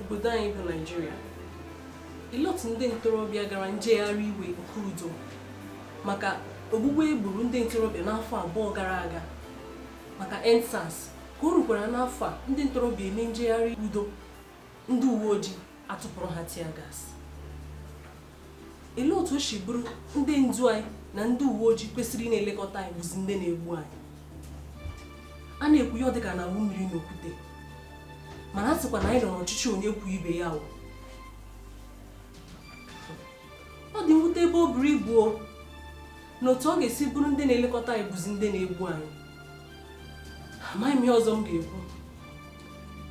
obodo anyị bụ Naijiria ilọtụ ndị ntorobịa gara njegharị iwe nke udo maka ogbugbu e gburu ndị ntorobịa n'afọ abụọ gara aga maka EndSARS ka o rukwara n'afọ a ndị ntorobịa eme njegharị udo ndị uwe ojii atụpụrụ ha tear gas Olee otu o si bụrụ ndị ndu anyị na ndị uwe ojii kwesịrị ịna-elekọta anyị bụzi ndị na-egbu anyị? A na-ekwu ya ọ dị ka a na-awụ mmiri na okwute mana a sịkwa na anyị nọ n'ọchịchị onye kwuo ibe ya kwuo ọ dị mwute ebe o buru ibu o na otu ọ ga-esi bụrụ ndị na-elekọta anyị bụzi ndị na-egbu anyị amaghị m ihe ọzọ m ga-ekwu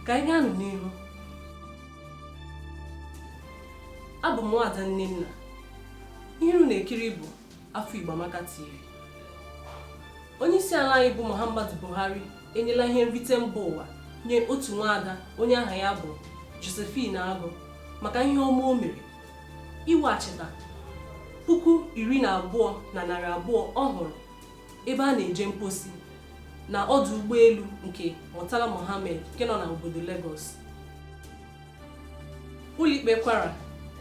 ka anyị gaa nụ n'ihu abụ m nwaada Nnenna ihe unu na-ekiri bụ afọ Igbo Amaka TV onye isi ala anyị bụ Muhammadu Buhari enyela ihe nrite mba ụwa nye otu nwaada onye aha ya bụ Josephine Agụ maka ihe ọma o mere iweghachita puku iri na abụọ na narị abụọ ọ hụrụ ebe a na-eje mposi na ọdụ ụgbọelu nke Murtala Mohammed nke nọ na obodo Lagos. Ụlọikpe Kwara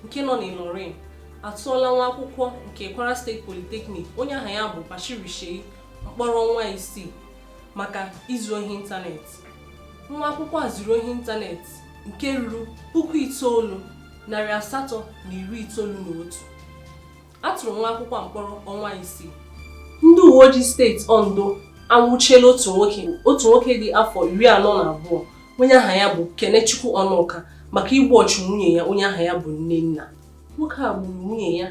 nke nọ n'Ilorin atụọla nwa akwụkwọ nke Kwara State Polytechnic onye aha ya bụ Bashir Shei mkpọrọ ọnwa isii maka izu ohi ịntanetị. Nwa akwụkwọ a zuru ohi ịntanetị nke ruru puku itoolu, narị asatọ na iri itoolu na otu. a tụrụ nwa akwụkwọ mkpọrọ ọnwa isii ndị uwe ojii steeti Ondo anwụchiela otu nwoke otu nwoke dị afọ iri anọ na abụọ onye aha ya bụ Kenechukwu Ọnụka maka igbu ọchụ nwunye ya onye aha ya bụ Nnenna nwoke a gburu nwunye ya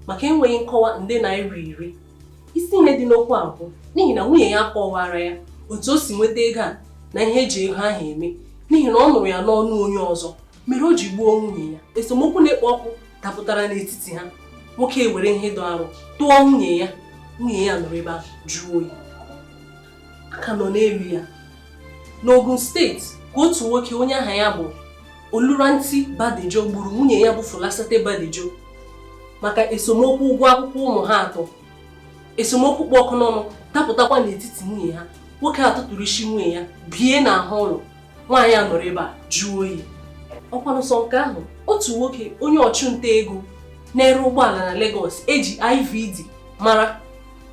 maka enweghị nkọwa nde naira iri isi ihe dị n'okwu a bụ n'ihi na nwunye ya kọwara ya otu o si nweta ego a na ihe e ji ego ahụ eme n'ihi na ọ nụrụ ya n'ọnụ onye ọzọ mere o ji gbuo nwunye ya esemokwu na-ekpo ọkụ dapụtara n'etiti ha nwoke ewere ihe dị arụ tụọ nwunye ya nwunye ya nọrọ ebe ahụ jụọ oyi a ka nọ n'elu ya n'Ogun steeti ka otu nwoke onye aha ya bụ Oluranti Badejo gburu nwunye ya bụ Folasade Badejo maka esemokwu ụgwọ akwụkwọ ụmụ ha atọ esemokwu kpụ ọkụ n'ọnụ dapụtakwa n'etiti nwunye ha nwoke a tụtụrụ isi nwunye ya bie n'ahụ ụlọ nwaanyị a nọrọ ebe a jụọ oyi ọkwanụ sọ nke ahụ otu nwoke onye ọchụnta ego na-ere ụgbọala na Lagos e ji IVD mara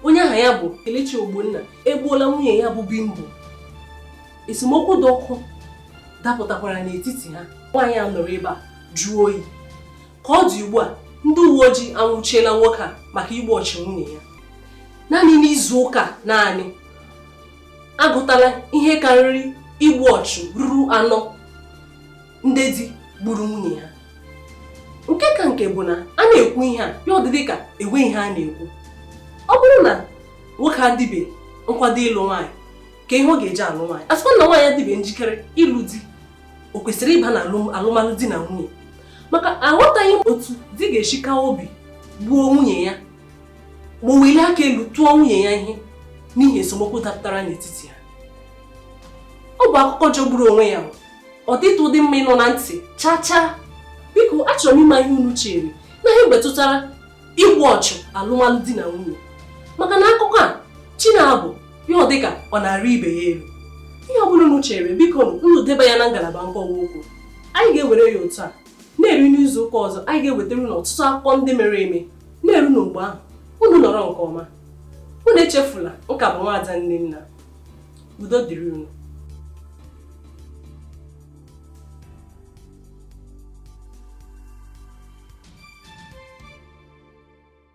onye aha ya bụ Kelechi Ogbonna egbuola nwunye ya bụ Bimbo esemokwu dị ọkụ dapụtakwara n'etiti ha nwaanyị a nọrọ ebe a jụọ oyi ka ọ dị ugbu a ndị uwe ojii anwụchiela nwoke a maka igbu ọchụ nwunye ya naanị n'ime izu ụka naanị agụtala ihe karịrị igbu ọchụ ruru anọ ndị di gburu nwunye ha nke ka nke bụ na a na-ekwu ihe a ya adịrị ka enwe ihe a na-ekwu ọ bụrụ na nwoke adịbe nkwado ịlụ nwaanyị kee ihe ọ ga-eji alụ nwaanyị a sịkwa na nwaanyị adịbe njikere ịlụ di o kwesịrị ịba na alụmalụ di na nwunye maka aghọtaghị m otu di ga-esi kaa obi gbuo nwunye ya ma o welie aka elu tụọ nwunye ya ihe n'ihi esemokwu dapụtara n'etiti ha ọ bụ akụkọ jọgburu onwe ya ọ dịtụghị mma ịnụ na ntị chaa chaa biko achọrọ m ịma ihe unu chere na ihe metụtara igbu ọchụ alụmalụ di na nwunye maka na akụkọ a chi na-abọ ya ọ dịka ọ na-arị ibe ya elu ihe ọ bụla unu chere biko unu deba ya na ngalaba nkọwa okwu anyị ga-ewere ya otu a na-eru n'izu ụka ọzọ anyị ga-ewetara unu ọtụtụ akụkọ ndị mere eme na-eru na mgbe ahụ unu nọrọ nke ọma unu echefula nke a bụ nwaada nnenna udo dịrị unu